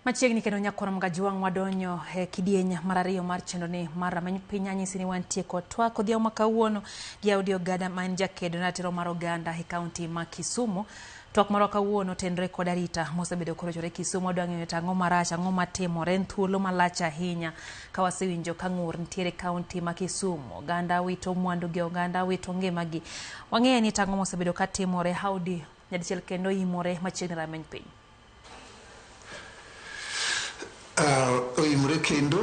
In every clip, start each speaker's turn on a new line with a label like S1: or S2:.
S1: Machiegni kendo nyakoro mga jiwang' wadonyo e kidieny mar ariyo mar chendo ni mar rameny piny anyisi ni wantie kod twak odhiambo ma kawuono gi Audi Ogada ma en jakedo na ratiro mar oganda e kaunti ma Kisumu. Twak marwa kawuono tenre kod arita mosebedo korochore Kisumu wadwa ng'eyo to ang'o marach ang'o matimore en thuolo malach ahinya ka wasewinjo ka ng'ur nitiere kaunti ma Kisumu oganda wito mwandu gi oganda wito ngimagi. Wang'eyo ni tang'o mosebedo ka timore Audi nyadichiel kendo imore machiegni rameny piny.
S2: Uh, oimre kendo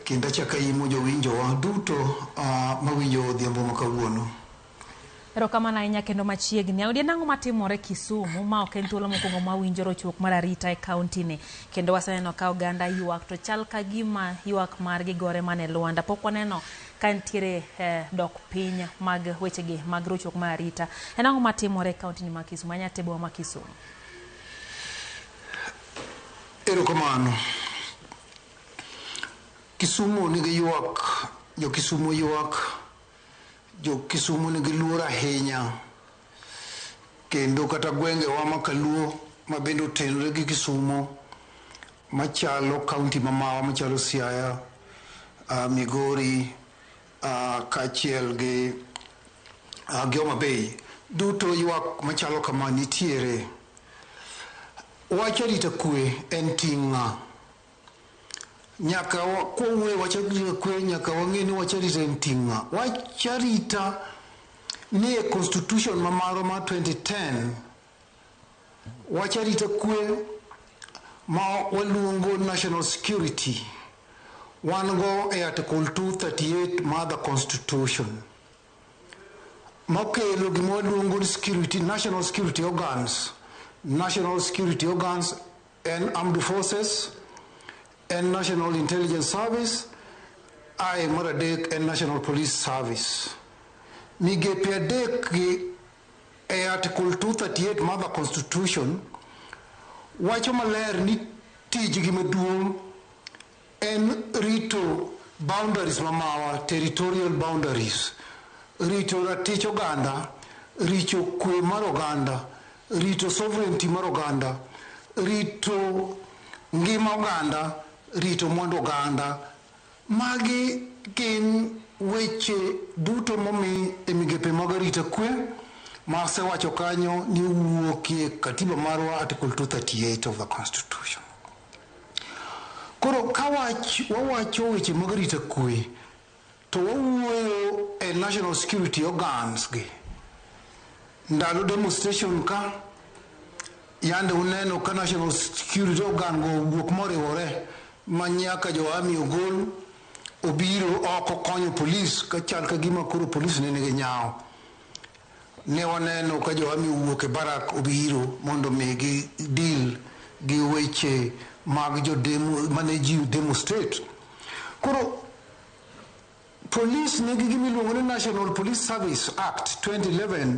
S2: kendo achako aimo jowinjowa duto uh, mawinjo odhiambo ma kawuono
S1: erokamano ahinya kendo machiegni audi en ang'o matimore kisumu ma ok en thuolo mokwongo ma winjo rochruok mar arita e kauntini kendo waseneno ka oganda ywak to chal ka gima ywak margi gore mana e lwanda pok waneno ka nitiere eh, dok piny mag wechegi mag rochruok mar arita en ang'o matimore e kauntini ma kisumu anyatebowa ma kisumu
S2: Erokamano. Kisumo nigi ywak, jo Kisumo ywak, jo Kisumo nigi luor ahinya kendo kata gwengewa ma Kaluo ma bende otenore gi Kisumo machalo kaunti mamawa machalo Siaya, uh, Migori, kaachiel gi gi Homa Bay duto ywak machalo kama nitiere. Wach arita kwe en ting' ng'a? Nyaka kwawuoye wach arita kwe nyaka wang'e ni wach arita en ting' ng'a? Wach arita nie constitution ma marwa mar 2010. Wach arita kwe ma waluongo national security wan go e article 238 mar the constitution mokelo gima waluongo ni security, national security organs. National security organs and armed forces and national intelligence service ae mar adek en national police service migepe adek gi e Article 238 mar the Constitution wacho maler ni tijgi maduong' en rito boundaries ma mawa, territorial boundaries, rito ratich oganda, rito kwe mar oganda, rito sovereignty mar oganda, rito ngima oganda, rito mwandu oganda. Magi gin weche duto momi e migepe mag arita kwe ma asewacho kanyo ni owuokie Katiba marwa Article 238 of the Constitution. Koro ka wach wawacho weche mag arita kwe to wawuoyo e national security organs gi ndalo demonstration ka Yande uneno ka National Security ogango wuok moriwore ma nyaka jo ami ogol obiro oko konyo polis ka chal ka gima koro polis ne nigi nyawo. Ne waneno ka jo ami owuok e barak obiro mondo mi gi deal gi weche mag jo demo mane ji demo state. Koro polis nigi gimiluongo ni National Police Service Act 2011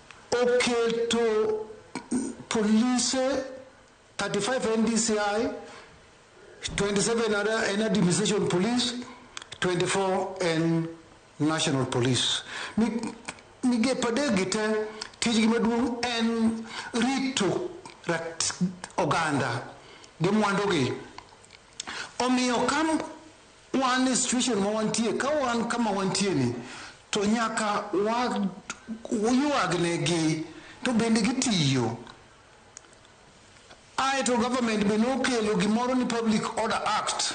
S2: Oketo polise 35 NDCI, 27 are en administration police, 24 en national police. Mi- Migepe adekgi te tijgi maduong' en rito rat oganda gi mwandugi. Omiyo ka Wan e situation ma wantie, ka wan kama wantie ni to nyaka wayuagne gi to bende gitiyo. Ae to government be nokelo gimoro ni Public Order Act.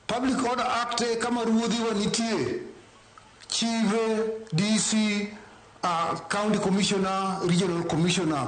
S2: Public Order Act e kama ruodhi wa nitie, chive, DC, uh, County Commissioner, Regional Commissioner,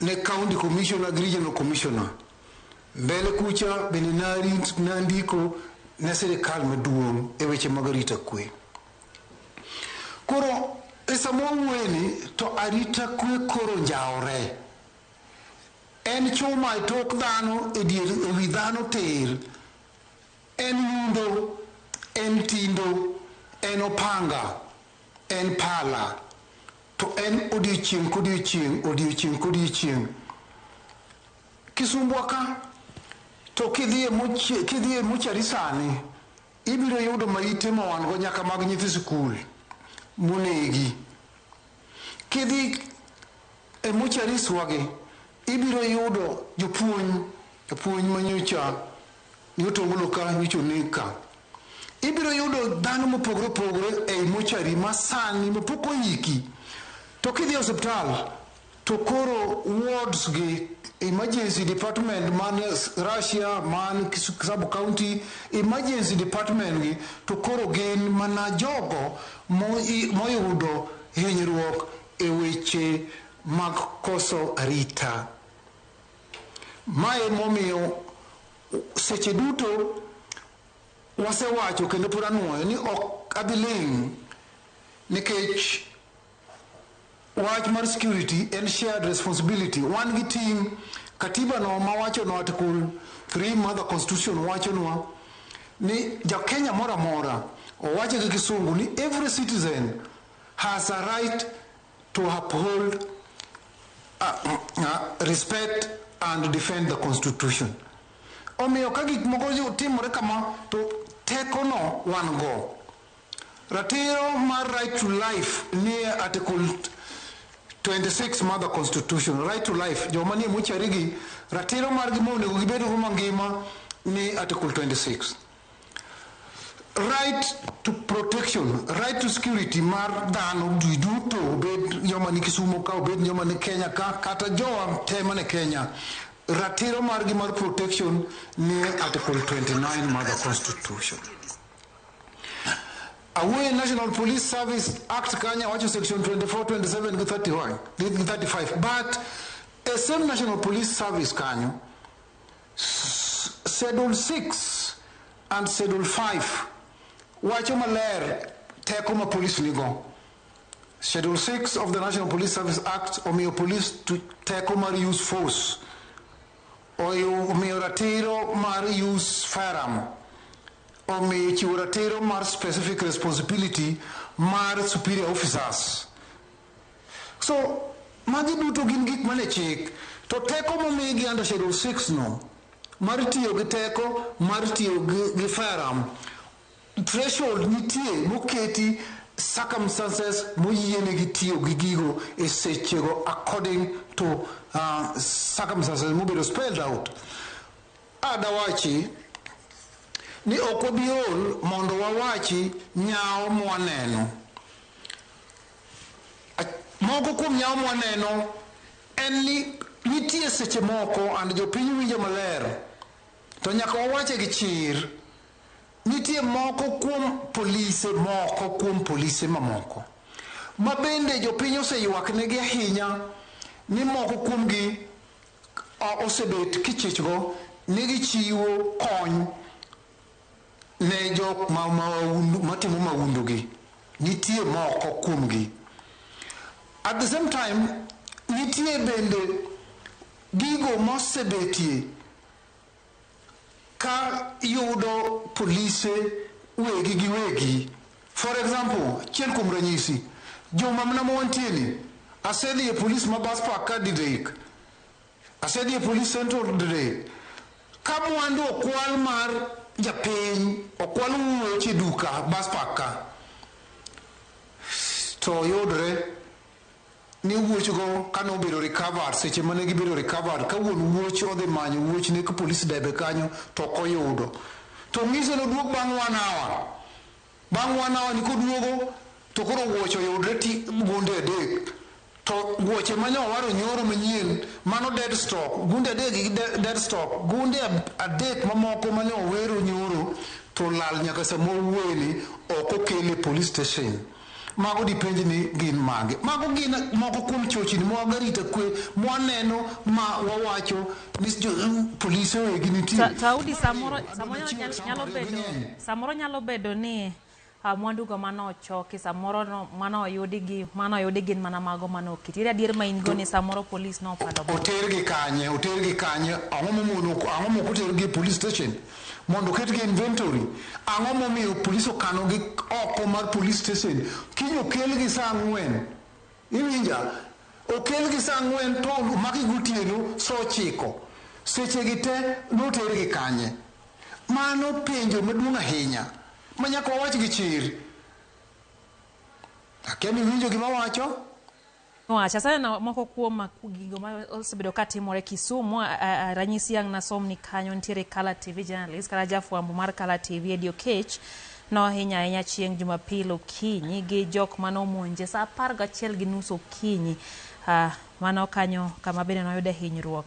S2: ne County Commissioner gi Regional Commissioner mbele kucha bende nandiko ne sirikal maduong' e weche mag arita kwe. Koro e sama wawuoyeni to arita kwe koro njaore. En chuma e tok dhano e dier e wi dhano tir, en nyundo, en tindo, en opanga, en pala. To en odiechieng' kodiechieng', odiechieng' kodiechieng'. Kisumbwa ka, to kidhi e mochie, kidhi e mochari sani, ibiro yudo maite ma wan go nyaka mag nyithi sikul monegi. Kidhi e mocharis wagi, ibiro yudo jopuonj, jopuonj manyocha Nyotongolo ka, nyocha oneg ka. Ibiro yudo dhano mopogore opogore ei mochari ma sani ma pok oyiki. To kidhi e osiptal to koro wards gi, emergency department man Russia, man sub county, emergency department gi to koro gin mana jogo moyudo hinyruok e weche mag koso arita. Mae momiyo seche duto wasewacho kendo pod anwoyo ni ok adhi ling' nikech wach mar security en shared responsibility. Wan gi ting' katiba no mawachonwa article 3 mar the constitution wachonwa ni jakenya moro amora owache gi kisungu ni every citizen has a right to uphold uh, uh, respect and defend the constitution omiyo ka gik moko yo- timore kama to tekono wan go ratiro mar right to life nie article 26 mar the constitution right to life joma nie mochari gi ratiro margi monego gibedgo mangima ni article 26 Right to protection, right to security mar dhano ji duto obed joma ni Kisumo ka obed joma ni Kenya ka kata jowa te mane Kenya ratiro margi mar protection ni article 29 mar the constitution awuoye national police service act kanya wacho section 24 27 gi 31 gi 35 but a same national police service kanyo Schedule 6 and Schedule 5 wacho maler teko ma polis nigo. Schedule 6 of the National Police Service Act omiyo polis teko mar use force, omiyo ratiro mar use firearm, omiyo chiwo ratiro mar specific responsibility mar superior officers. So magi duto gin gik mane chik to teko momigi under schedule 6 no mar tiyo gi teko mar tiyo gi firearm threshold nitie moketi circumstances moyienegi tiyo gi gigo e sechego according to uh, circumstances mobedo spelled out adawachi ni ok wabiol mondo wawachi nyawo mwaneno Moko kuom nyawo mwaneno en ni nitie seche moko and jopiny winjo maler to nyaka wawache gi chir. Nitie moko kuom polise moko kuom polise mamoko ma bende jopiny oseywaknegi ahinya ni moko kuomgi osebet kichichgo ni gichiwo kony. Ne jok ma maundu, matimo maundu gi, nitie moko kuom gi. At the same time, nitie bende gigo mosebetie ka yudo polise wegi gi wegi. For example, achiel kuom ranyisi, juma mna ma wantie ni, asedhi e polis ma bus park ka Digaik, Asedhi e police center ordre ka mwandu okwal mar japiny okwal wuoch e duka bus park ka to yudre ni wuochgo kane obedo recovered seche mane gibedo recovered ka wuon wuoch odhi manyo wuochne ka police debe kanyo to ok oyudo to ng'ise noduog bang' one hour Bang' one hour ni koduogo to koro wuoche oyudre ti gunde adek. To wuoche ma nyo waro nyoro manyien mano dead stock. Gunde adek gi de- dead stock. Gunde ab- adek mamoko ma nyo wero nyoro to olal nyaka sama wawuoyeni ok okel e police station. Mago dipenj ni gin mage. Mago gin moko kuom chochni ma wago arita kwe ma waneno ma wawacho ni jo- polise wegi nitie. Ta- Taudi samoro
S1: samoro nyalo, nyalo bedo Samoro nyalo bedo ni uh, mwandugo mane ochoki samoro no, mane oyudi gi mane oyudi gin mana mago mane oketi. Ere adier ma in go ni samoro polis ne opando bot. otergi kanye
S2: otergi kanye ang'o momono ang'o mok otergi e police station mondo oketgi e inventory ang'o momiyo police okanogi oko mar police station kiny okelgi saa ang'wen iwinja okelgi saa ang'wen to omaki gotieno saa ochiko sechegi te notergi kanye Mano penjo maduong' ahinya ma nyaka wawach gi chir. Akia ni iwinjo gima awacho. Wach,
S1: aseneno moko kuom gigo ma osebedo ka timore Kisumu. A, a, a, ranyisi ang' nasom ni kanyo nitiere Color TV journalist kata jafwambo mar Color TV Eddie Okech nohinya ahinya chieng' Jumapil okinyi gi jok mane omonje saa apar gachiel gi nus okinyi. Ah, mano kanyo kama bende noyude hinyruok.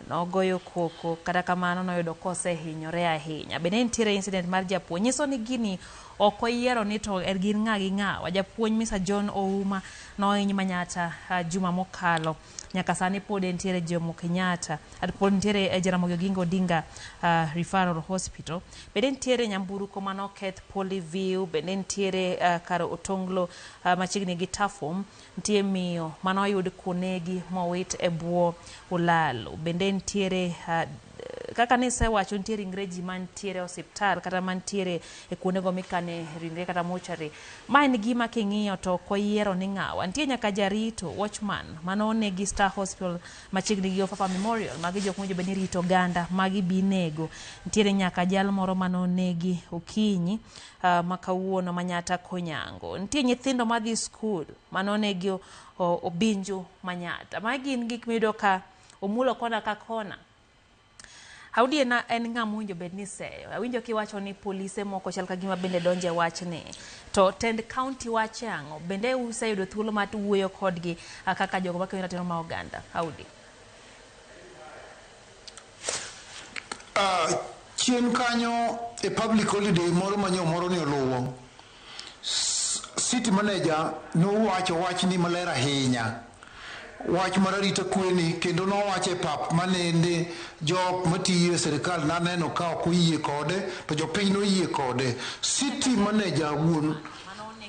S1: Nogoyo koko kata kamano noyudo kosehinyore ahinya. Be ne nitiere incident mar japuonj? Nyiso ni gini ok oyiero ni to er gin ng'a gi ng'a. Wa japuonj Mr. John Ouma nohiny manyatta ah, juma mokalo. Nyaka sani pod entiere Jomo Kenyatta. At pod nitiere eh, Jaramogi Oginga Odinga ah, Referral Hospital. Be ne nitiere nyamburko manoketh Poly View. Be ne nitiere ah, kar Otonglo ah, machiegni gi Tafom. Ntie miyo mane oyud konegi mowit e bwo olalo. Bende ntiere kaka nisewacho ntie ringre ji mantiere e osiptal kata mantiere e kuondego mikane ringre kata mortuary. Ma en gima king'iyo to ok wayiero ni ng'awa. Ntie nyaka jarito, watchman, mane oneg gi Star Hospital machiegni gi Ofafa Memorial. Magi jok mowinjo bed ni rito oganda, magi be inego. Ntiere nyaka jal moro mane onegi Okinyi. Uh, ma kawuono manyata konyango nitie nyithindo madhi skul manonegi obinju manyata ma gin gik miyudo ka omulo kona ka kona Audi en, en ng'a mowinjo bed ni seyo. Awinjo kiwacho ni polise moko chal ka gima bende donje wachni. To tend county wache ang'o? Bende useyudo thuolo mar wuoyo kodgi kaka jogo makeyo ratiro ma oganda? Audi.
S2: Ah, chien kanyo e public holiday moro manyo moro ni oluwo city manager nowacho wach ni maler ahinya wach mar arita kweni kendo nowacho e pap manende jok matiyo e sirikal naneno ka ok oyie kode to jopiny noyie kode city manager wuon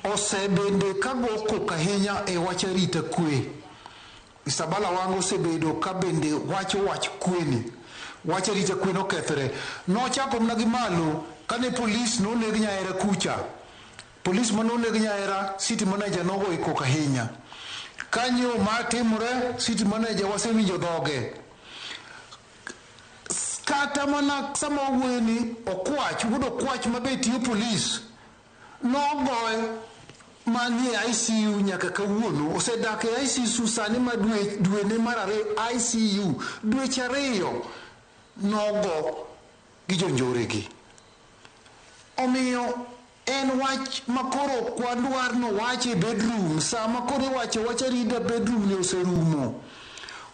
S2: osebende kago kok ahinya e wach arita kwe Isabala Wanga osebedo ka bende wacho wach kwe ni, wach arita kwe nokethre. Nochako mna gi malo kane polis noneg nyahera kucha. Polis mane oneg nyahera, city manager nogoye koko ahinya. Kanyo ma timore, city manager wasewinjo dhoge. Kata mana sama wawuoyo ni Okwach, wuod Okwach ma be tiyo polis, Nogoye ma ni e ICU nyaka kawuono. Osedak e ICSU sani ma dwe dwene mar ariyo ICU. Dweche ariyo nogo gi jonjore gi. Omiyo en wach ma koro ok wadwar nowach e bedroom. Sa ma koro iwacho wach arita bedroom ni oserumo.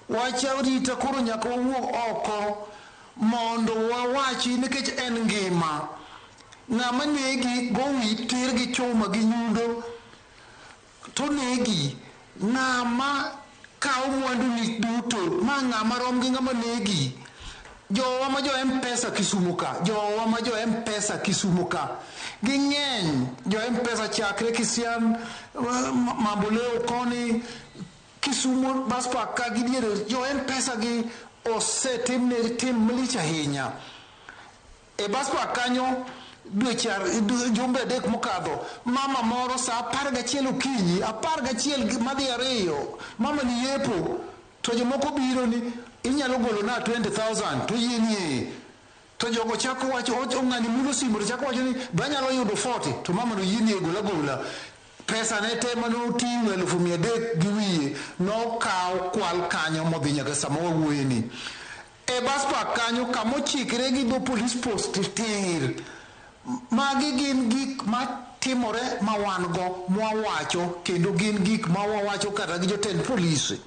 S2: Wach arita koro nyaka wawuog oko. Mondo wawachi nikech en ngima. Ng'ama negi gowi tir gi chuma gi nyundo to onegi. Ng'ama kawo mwanduni duto ma ng'ama rom gi ng'ama negi. Jowa ma jo Mpesa Kisumo ka, jowa ma jo Mpesa Kisumo ka ging'eny. Jo Mpesa chakre Kisian, Mamboleo koni. Kisumo bas kwa ka gi diere jo mpesa gi osetim ne tim malich ahinya e bas kwa kanyo dweche jumbe adek mokadho mama moro saa apar gachiel okinyi apar gachiel madhi ariyo mama ni yepo to jomoko biro ni inyalo golo na 20000 to yie nie To jogo chako wacho, o- ng'ani mulo simu to chako wacho ni be anyalo yudo 40 to mama noyie ni egol agola. Pesa ne te mane oting'o elufu mia adek gi wiye nokaw kwal kanyo modhi nyaka sama wawuoye ni. E bus park kanyo kama ochikre gi dho police post tir. Magi gin gik ma timore ma wan go mwawacho kendo gin gik ma wawacho kata gi jotend polise.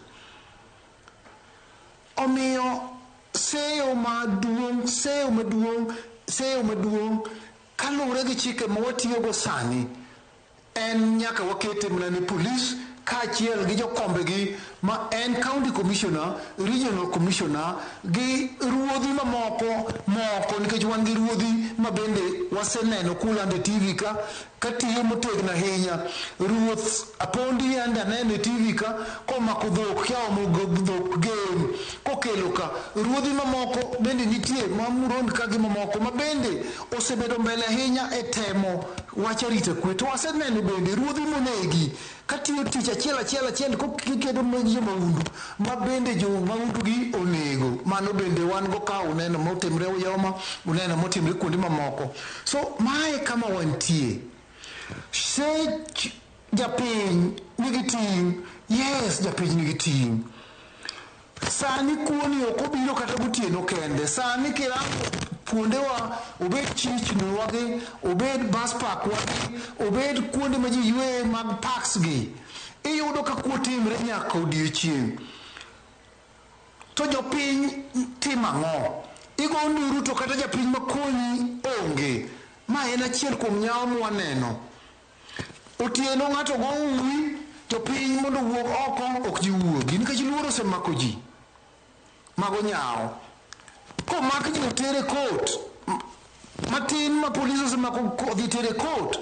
S2: Omiyo seyo maduong', seyo maduong', seyo maduong' kaluwore gi chike ma watiyogo sani en nyaka wakete mana ne polis kaachiel gi jokombegi ma en county commissioner, regional commissioner gi ruodhi mamoko moko nikech wan gi ruodhi ma bende waseneno kulando e TV ka Katiyo motegno ahinya. Ruoth Apondi yande aneno e TV ka komako dhok kia omo dhok gen kokelo ka. Ruodhi mamoko bende nitie ma Murondi ka gi mamoko ma bende osebedo mbele ahinya e temo wach arita kwe. To aseneno bende ruodhi monegi. Katiyo tich achiel achiel achiel kikedo mag jo maundu ma bende jo maundu gi onego mano bende wan go ka uneno motimre Uyoma uneno motimre kuonde mamoko so mae kama wantie sech japiny nigi ting yes japiny nigi ting Sani kuoni ok obiro kata gotieno kende. Sani kirango kuondewa obed chichni wagi, obed bus park wagi, obed kuonde ma ji yueye mag parks gi, iyudo ka kuo timre nyaka odiechieng'. To jopiny timo ang'o? Igo nduru to kata japiny makonyi onge. Ma en achiel kuom nyawo mwaneno. Otieno ng'ato go uwi to piny mondo owuog oko ok ji wuogi nikech luoro osemako ji. Mago nyawo. Komak ji otere court, matin ma police osemako odhi tere court,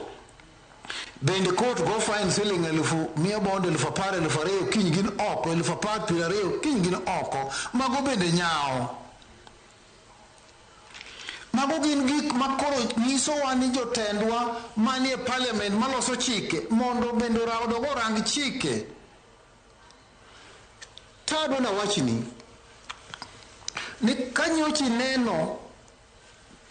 S2: bende court go fine siling elufu miya bond elufu apar elufu ariyo kiny gin oko, elufu apar piero ariyo kiny gin oko. Mago bende nyawo. Mago gin gik ma koro nyisowa ni jotendwa manie parliament maloso chike mondo bende odogo orang chike. Tado na wachni ni kanyochi neno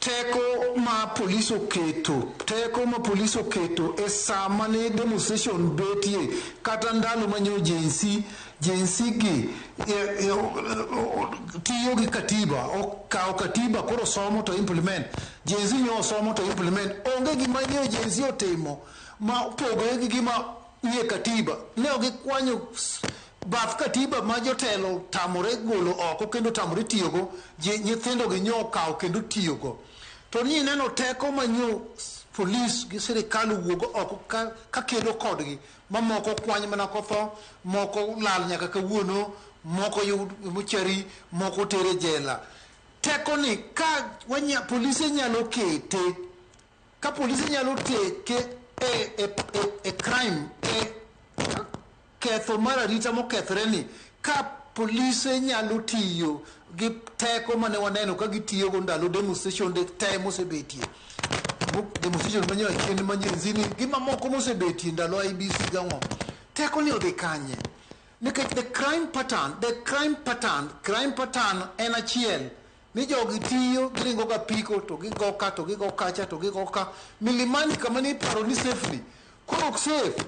S2: teko ma polis oketo teko ma polis oketo e saa mane demonstration betie kata ndalo manyo jinsi Jinsi gi eh, eh, tiyo gi katiba okawo katiba koro somo to implement jinsi nyo osomo to implement onge gima nyo jinsi otimo ma opogore gi gima nie katiba ne ok gikwanyo s- bath katiba ma jotelo tamore golo oko kendo tamore tiyogo ji- nyithindogi nyo okawo kendo tiyogo to ni ineno teko manyo s- polis gi sirikal wuogo oko ka, ka kedo kodgi Ma moko kwany mana kotho, moko lal nyaka kawuono, moko yud muchari, moko oter e jela. Teko ni ka wanya, polise nyalo kete, ka polise nyalo teke e, e, e, e crime, e ketho mar arita mokethre ni, Ka polise nyalo tiyo gi teko mane waneno ka gitiyogo ndalo demonstration de te mosebetie demonstration manyo achien manyenzini gi mamoko mosebetie ndalo IBC gang'o teko ni odhi kanye nikech the crime pattern the crime pattern crime pattern en achiel ni jogi tiyo giringo ga piko to gigo ka to gigo kacha to gigo ka milimani kama ni paro ni safely koro ok safe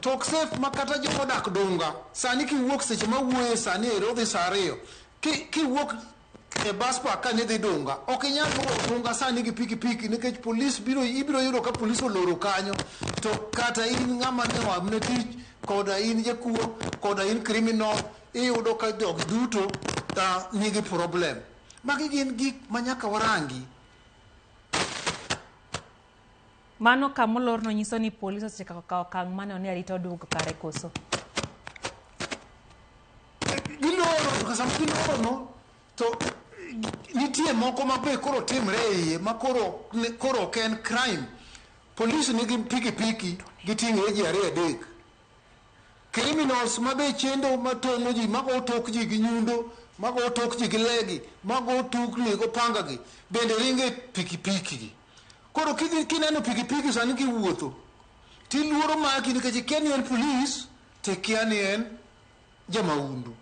S2: Tok safe ma kata joma odak Dunga sani kiwuok seche ma wuoye sani ero dhi saa ariyo kiwuok e bus park ka nidhi Dunga ok inyal luwo Dunga sani gi piki piki nikech polis biro ibiro yudo ka polis oloro kanyo to kata in ng'ama ne oamne tich koda in jakuo koda in criminal iyudo ka jogi duto uh, nigi problem. Magi gin gik ma nyaka warangi.
S1: Mano kama olorno nyiso ni polis osechako kawo okang' ma neno ni arita oduogo kare koso?
S2: Giloro to kasam gilorono to nitie moko ma be koro timre e iye ma koro ne- koro ok en crime. Polis nigi pikipiki giting'ore ji ariyo adek. Criminals ma be chendo ma tong'o ji ma go tok ji gi nyundo ma go tok ji gi legi ma go tukni go pangagi bende ringo e pikipiki gi. Koro kidhi kineno pikipiki sani kiwuotho tiluoro maki nikech ikia ni en polis to ikia ni en jamahundu.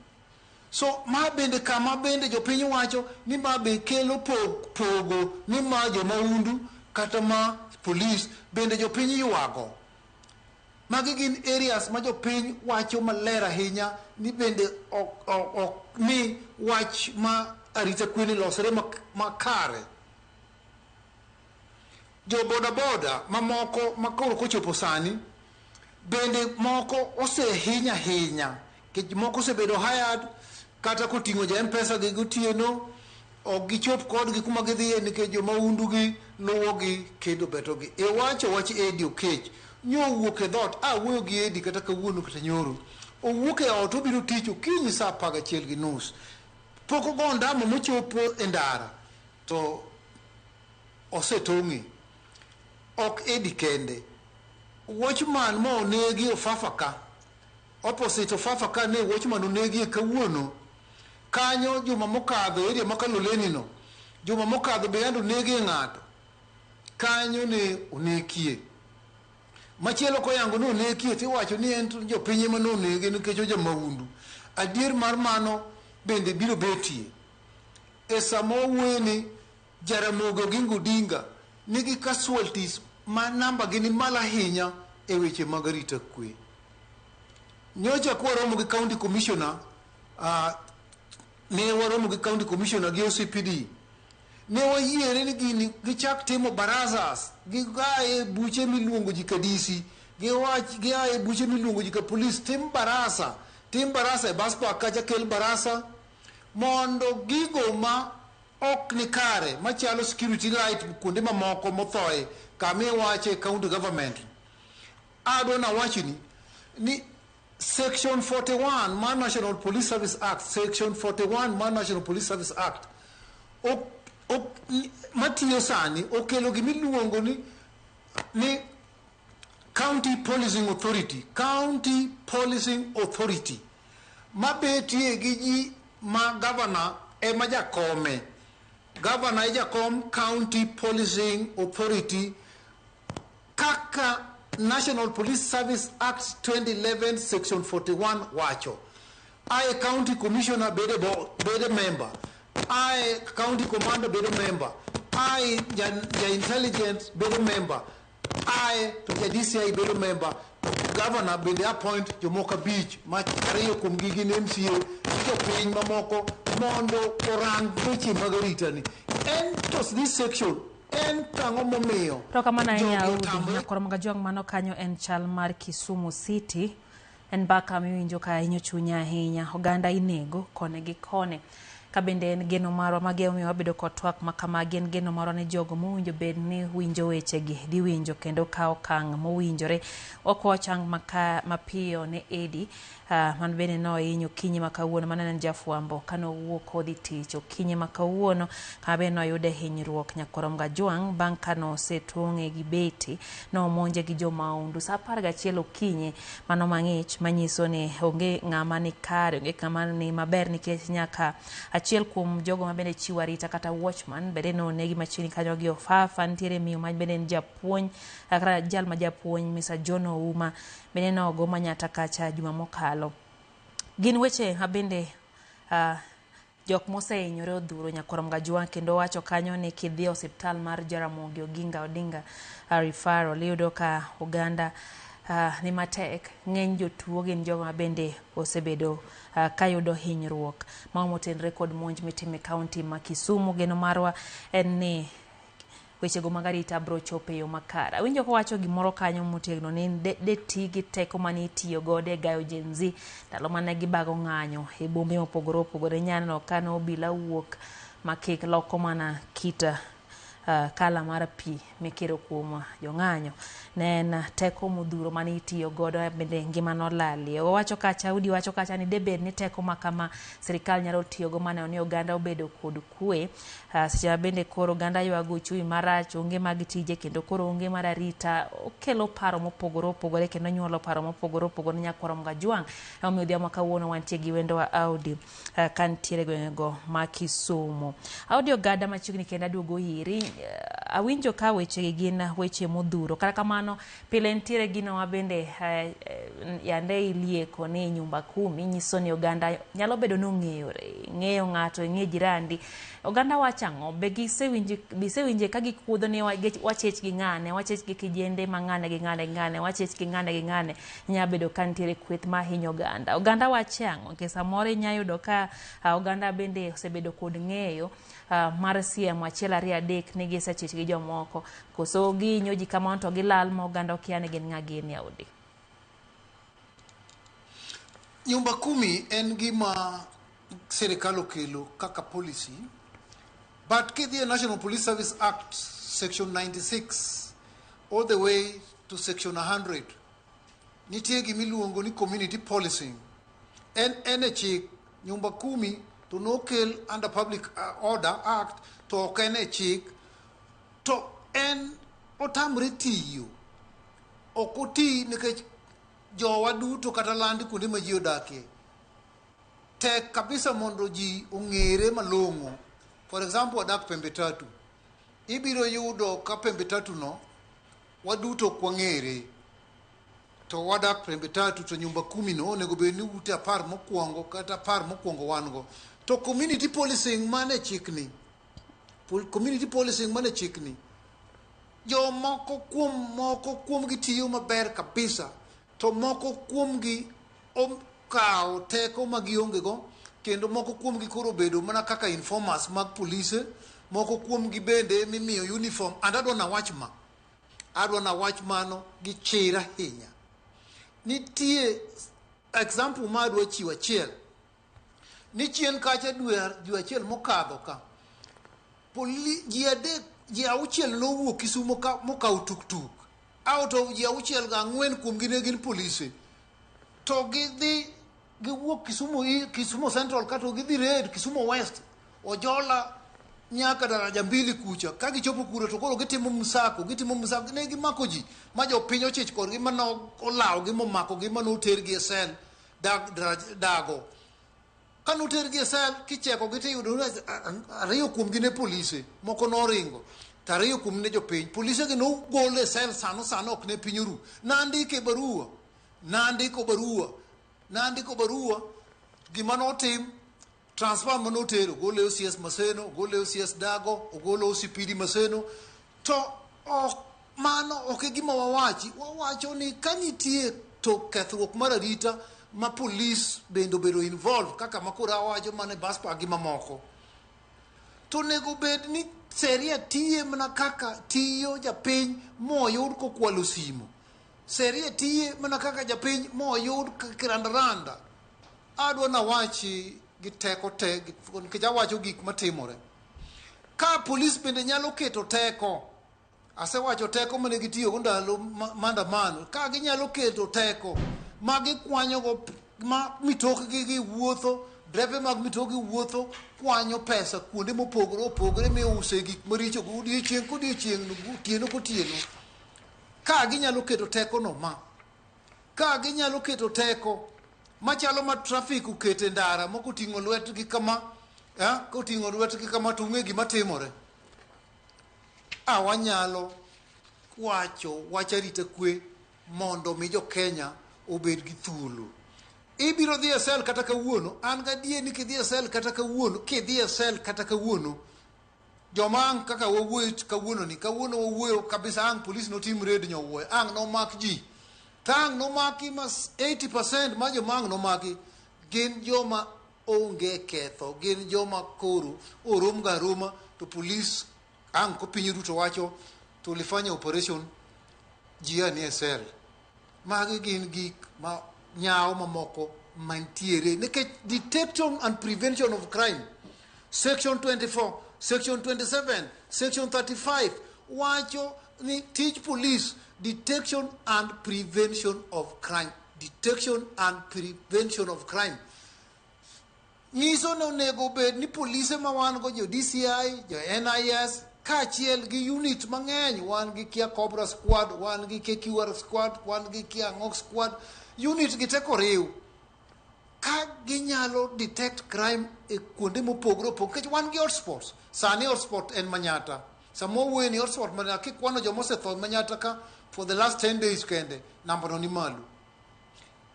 S2: So ma bende kama bende jopiny wacho ni ma be kelo po- pogo ni ma jamahundu kata ma polis bende jopiny ywago. Magi gin areas ma jopiny wacho maler ahinya ni bende ok, ok, ok mi wach ma arita kwe ni losre mak- makare. Jo bodaboda mamoko ma koro kochopo sani bende moko osehiny ahinya nikech moko osebedo hired kata koting'o ja mpesa gi gotieno ok gichop kodgi kuma gidhiye nikech jomahundugi luwogi kendo betogi. Iwacho wach Edi Okech nyo owuok e dhot, a wuoyo gi Edi kata kawuono kata nyoro. Owuok e ot obiro tich okinyi saa apar gachiel gi nus. Pok ogo ondamo mochopo e ndara. To osetong'e. Ok Eddie kende. Watchman ma onegi Ofafa ka. Opposite Ofafa ka ne Watchman onegie kawuono. Kanyo juma mokadho area ma Kaloleni no. Juma mokadho be yande onegie ng'ato. Kanyo ne onekie. Machielo koyango ni onekie tiwacho ni en to jopiny ema ne onege nikech ojamahundu. Adier mar mano bende biro betie. E sama wawuoyo ni, Jaramogi Oginga Odinga nigi casualties ma namba gi ni malo ahinya e weche mag arita kwe. Nyocha kwaromo gi County Commissioner, uh, ne waromo gi County Commissioner gi OCPD, ne wayiere ni gini gichak timo barazas, gigaye buche miluongo ji kadisi, giwach giaye buche miluongo ji ka police, tim barasa, tim barasa e bus park kacha kel barasa, Mondo gigo ma ok ni kare machalo security light kuonde mamoko mothoe kama iwache county government adwa nawachni ni section 41 mar National Police Service Act section 41 mar National Police Service Act ok, ok, matiyo sani okelo gimiluongo ni, ni County Policing Authority, County Policing Authority, mabetie gi ji ma gavana ema jakome. Gavana e jakom County Policing Authority kaka National Police Service Act 2011 Section 41 wacho. Aye County Commissioner bede, bo, bede member. Aye County Commander bede member. Aye ja, ja intelligence bede member. Aye to ja DCI bedo member, governor bende appoint jomoko abich ma ariyo kuom gi gin MCA gi jopiny mamoko mondo orang weche mag arita ni. En to this section en tang'o momiyo. Rokamana ahinya
S1: Audi. Nyakoro mga jong mano kanyo en chal mar Kisumu City. En mbaka miwinjo ka hinyo chunya ahinya. Oganda inego koni gi koni. Ka bende en geno marwa magi emomiyo wabedo kod twak ma kamagi, en geno marwa ni jogo mowinjo bed ni winjo wechegi dhi winjo kendo kawo okang' mowinjore. Wakwawo chang maka mapiyo ne Edi ah, man bende nohiny okinyi ma kawuono mane en jafwambo kane owuok kodhi tich okinyi ma kawuono kama bende noyude hinyruok nyakoromga jwang' bang' kane osetong'e gi beti nomonje gi jo maundu sa apar gachiel okinyi mano mang'ich manyiso ni onge ng'ama ni kare onge ng'ama ni maber nikech nyaka achiel kuom jogo ma bende chiwo arita kata watchman bende nonegi machiegni kanyo gi ofafa nitiere miyo ma bende en japuonj kata jal ma japuonj misa john ouma bende nogo manyata kacha juma mokalo gin weche mabende uh, Jok mosehinyore odhuro Nyakorom Gajwa kendo owacho kanyo ni kidhi osiptal mar Jaramogi Oginga Odinga uh, referral iyudo ka oganda uh, ni matek. Ng'eny jotuo gin jogo ma bende osebedo uh, kayudo hinyruok. Mago motenre kod monj mitime kaunti ma Kisumu. Geno marwa en ni wechego mag arita biro chopo e yo makare. Awinjo kowacho gimoro kanyo motegno ni de, de ti gi teko ma ne itiyo godo e gayo Gen Z ndalo ma ne gibago ng'anyo e bombe mopogore opogore. Nyaneno ka ne obila wuok ma kik loko mana kit uh, kala mar pi mikiro kuom jong'anyo. Ne en teko modhuro ma ne itiyo godo bende ngima nolalie. Owacho kacha, Udi wacho kacha ni debed ni teko ma kama sirkal nyalo tiyogo maneno ni oganda obedo kod kwe. Ah, Seche ma bende koro oganda ywago uchumi marach, onge mag tije kendo koro onge mar arita, okelo paro mopogore opogore kendo nyuolo paro mopogore opogore ne nyakwaro Mgajwang'. Emomiyo odhiambo kawuono wantie gi wendowa Audi ah, ka nitiere gwengego ma Kisumu. Audi Ogada machiegni kendo aduogo iri. Eh, Awinjo ka wechegi gin weche modhuro. Kata kamano, Pile nitiere gino ma bende yande ilieko ni nyumba kumi, nyiso ni oganda nyalo bedo ni ong'eyore, ing'eyo ng'ato, ing'e jirandi. Oganda wacho ang'o? Be gisewinje be isewinje ka gikuodho ni wachich gi ng'ane, wachich gi kijende ma ng'ane gi ng'ane gi ng'ane, wachich gi ng'ane gi ng'ane. Nya bedo ka nitiere kweth ma hinyo oganda. Oganda wacho ang'o? Nikech samoro inya yudo ka oganda bende osebedo kod ng'eyo mar siem achiel ariyo adek ni gisechich gi jomoko. Koso gihinyo ji kamano to gilal ma oganda okia ni gin ng'a gini audi.
S2: Nyumba kumi en gima sirikal okelo kaka policy but kidhi e National Police Service Act section 96 all the way to section 100 nitie gima iluongo ni community policing en en e chik nyumba kumi to nokel under public uh, order act to ok en e chik To en otamre tiyo. Ok oti nikech jowa duto kata landi kuonde ma ji odakie. Tek kabisa mondo ji ong'ere malong'o. For example, wadak pembe tatu. Ibiro yudo ka pembe tatu no waduto ok wang'ere. To wadak pembe tatu to nyumba kumi no onego bed ni ute apar mokwongo kata apar mokwongo wan go. To community policing mane chikni. Community policing mane chikni. Jo moko kuom moko kuomgi tiyo maber kabisa to moko kuomgi okawo teko ma giongego kendo moko kuomgi koro obedo mana kaka informers mag polise moko kuomgi bende mimiyo uniform and adwa nawach ma adwa nawach mano gi chir ahinya nitie example ma adwa chiwo achiel ni chien kacha dwe dwe achiel mokadho ka poli ji adek ji auchiel nowuok Kisumo ka mokawo tuktuk out of ji auchiel ga ang'wen kuomgi ne gin polise to gidhi giwuok Kisumo i- Kisumo Central kato gidhi red Kisumo West ojola nyaka daraja mbili kucha ka gichopo kuro to koro gitimo msako gitimo msako ne gimako ji ma jopiny ochich kodgi mano olawogi momakogi mano otergi e sel Dag, draj, dago ka notergi e sel kichekogi tiyudo ni a- a- ariyo kuomgi ne polise moko noringo to ariyo kuom ne jopiny polisegi nogol e sel sano sano ok ne piny oru nandiko e barua nandiko barua nandiko barua gima notim Transfer mane otero ogolo e OCS Maseno, ogolo e OCS Dago, ogolo e OCPD Maseno to ok mano ok e gima wawachi. Wawacho ni ka nitie to kethruok mar arita ma polis bende obedo involved kaka ma koro awacho mane Baspa gi mamoko. To onego bed ni seria tiye mana kaka tiyo japiny moyud kokwalo simo. Seria tiye mana kaka japiny moyud kirandaranda. Adwa nawachi gi teko te nikech awacho gik matimore. Ka polis bende nyalo keto teko, asewacho teko mane gitiyogo ndalo maandamano, ka ginyalo keto teko ma gikwanyogo ma mitokgi gi wuotho, drepe mag mitokgi wuotho kwanyo pesa kuonde mopogore opogore miuse gik maricho odiechieng' kodiechieng' otieno kotieno, ka ginyalo keto tekono ma Ka ginyalo keto teko machalo ma trafik oketo e ndara ma koting'o lwetgi kama eh, koting'o lwetgi kama to ung'e gima timore. A wanyalo wacho wach arita kwe mondo mi jo Kenya obed gi thuolo. Ibiro dhi e sel kata kawuono, an gadier ni kidhi e sel kata kawuono, kidhi e sel kata kawuono, Joma ang' kaka wawuoyo kawuononi, kawuono wawuoyo kabisa ang' polis notim red nyowuoyo, ang' nomak ji. Ka ang' nomaki ma 80% ma joma ang' nomaki gin joma onge ketho, gin joma koro orom ga aroma to polis ang' ko piny duto wacho tulifanya operation ji anie sel. Magi gin gik ma nyawo mamoko mantiere nikech detection and prevention of crime section 24 section 27 section 35 wacho ni tij police detection and prevention of crime detection and prevention of crime nyiso ni onego obed ni polise ma wan go jo DCI, jo NIS kaachiel gi unit mang'eny wan gi Kia Cobra Squad, wan gi KQR Squad, wan gi Kia Ang'ok Squad, unit gi teko riw ka ginyalo detect crime e kuonde mopogore opogore nikech wan gi hotspots sani hotspot en Manyata sama owuoye ni hotspot Manyata kikwano joma osetho Manyata ka for the last 10 days kende nambano ni malo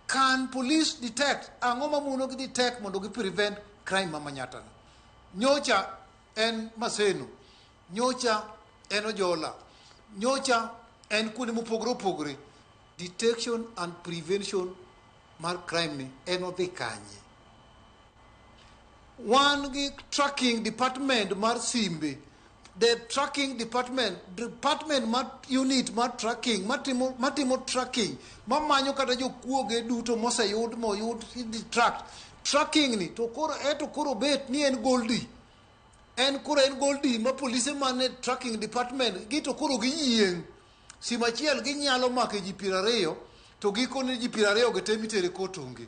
S2: Can police detect? Ang'o ma mono gi detect mondo gi prevent crime ma Manyatta no? Nyocha en Maseno, nyocha en Ojola, nyocha en kuonde mopogore opogore. Detection and prevention mar crime ni en odhi kanye? Wan gi tracking department mar simbe. The tracking department, department mar unit mar tracking, matimo, matimo tracking, mamanyo kata jokuoge duto moseyud moyud tract. Tracking ni to koro eto koro bet ni en goldi. En koro en goldi ma polise mane tracking department gi to koro giyieng'. Sima achiel ginyalo make ji piero ariyo to gikone ji piero ariyo gi te mitere kotonge.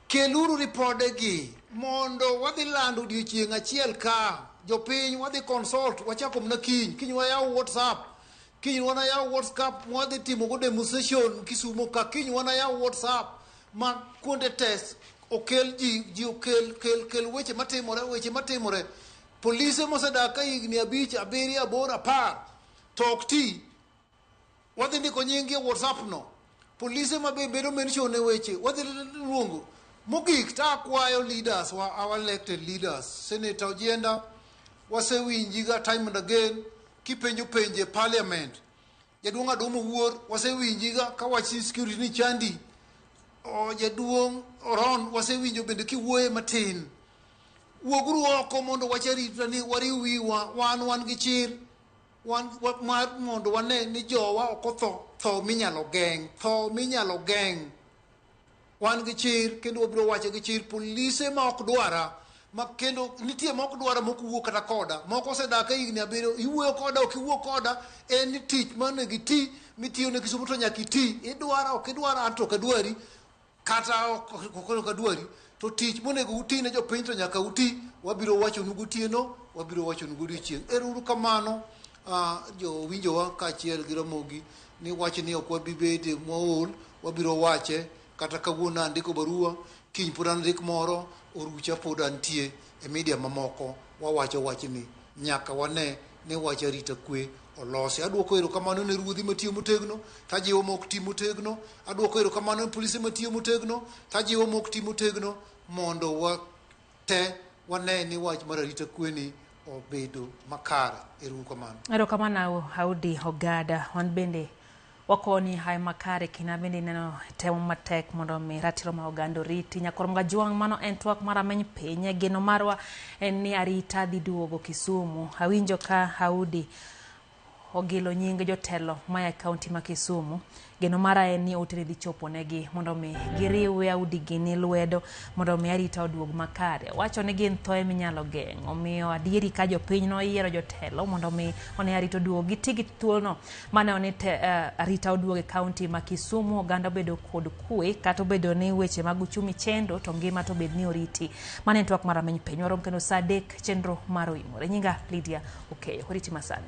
S2: Keluru ripode gi mondo wadhi lando odiochieng' achiel ka jopiny wadhi consult wachako mna kiny kiny wayaw whatsapp kiny wana yaw whatsapp mwadhi timo go demonstration kisumo ka kiny wana yaw whatsapp ma kuonde test okel ji ji okel kel kel weche matimore weche matimore polise mosedak ka higni abich abiriyo aboro apar to ok ti Wadhi ndiko nyingi e WhatsApp no. Polise ma be bedo mention e weche, wadhi luongo. Mogik ta akwayo leaders wa, our elected leaders, Senator Ojenda, wasewinji ga time and again kipenjo penje parliament. Jaduong' Adumo Wuor, wasewinji ga ka wachi security ni chandi. O, jaduong' Oron, wasewinjo bende kiwuoye matin. Wuoguru oko mondo wacharitani wariw wiwa, wan wan gi chir. wan wa- mar mondo wane ni jowa ok otho tho minyalo geng' tho minyalo geng' wan gi chir kendo wabiro wacho gi chir polise ma ok dwara ma kendo nitie ma ok dwara ma ok wuo kata koda moko osedak e higni abiriyo iwuoyo koda ok iwuo koda en ni tich mane giti mitiyo ne kisumo to nyaka iti idwara ok idwara an to ok adwari kata ok okonyo ka dwari to tich monego uti ne jopiny to nyaka uti wabiro wachonu gotieno wabiro wachonu godiochieng' erouru kamano ah, jowinjowa kaachiel gi ramogi ni wach ni ok wabi bede mwaol wabiro wache kata kawuono andiko barua kiny pod andik moro orucha pod antie e media mamoko wawacho wachni nyaka wane ni wach arita kwe olosi adwoko erokamano ne ruodhi matiyo motegno tajiwo ma ok ti motegno Aduoko erokamano ne polise matiyo motegno, to ajiwo mok ti motegno mondo wate wane ni wach mar arita kweni obedo makare. Ero uru kamano. Erokamano
S1: Audi Ogada, wan bende wakoni hayo makare kina bende ineno temo matek mondo omi ratiro ma oganda oriti nyakoro mga juang' mano en twak mar ameny piny geno marwa en ni arita dhi duogo kisumu awinjo ka haudi ogilo nying jotelo maya e kaunti ma Kisumu. Geno mara en ni oteni dhi chopo negi mondo mi giriwe audigini lwedo mondo mi arita oduog makare. Wacho ni gin thoe minyalo geng'. Omiyo adieri ka jopiny noyiero jotelo mondo mi one arita oduog giti gi thuolono mane one te, uh, arita oduog e kaunti ma Kisumu oganda obedo kod kwe kata obedo ni weche mag uchumi chendo to ngima to bed ni oriti. Mane twak mar ameny piny warom kendo saa adek chenro mar oyimore. Nyinga Lydia okeyo. Oriti masani.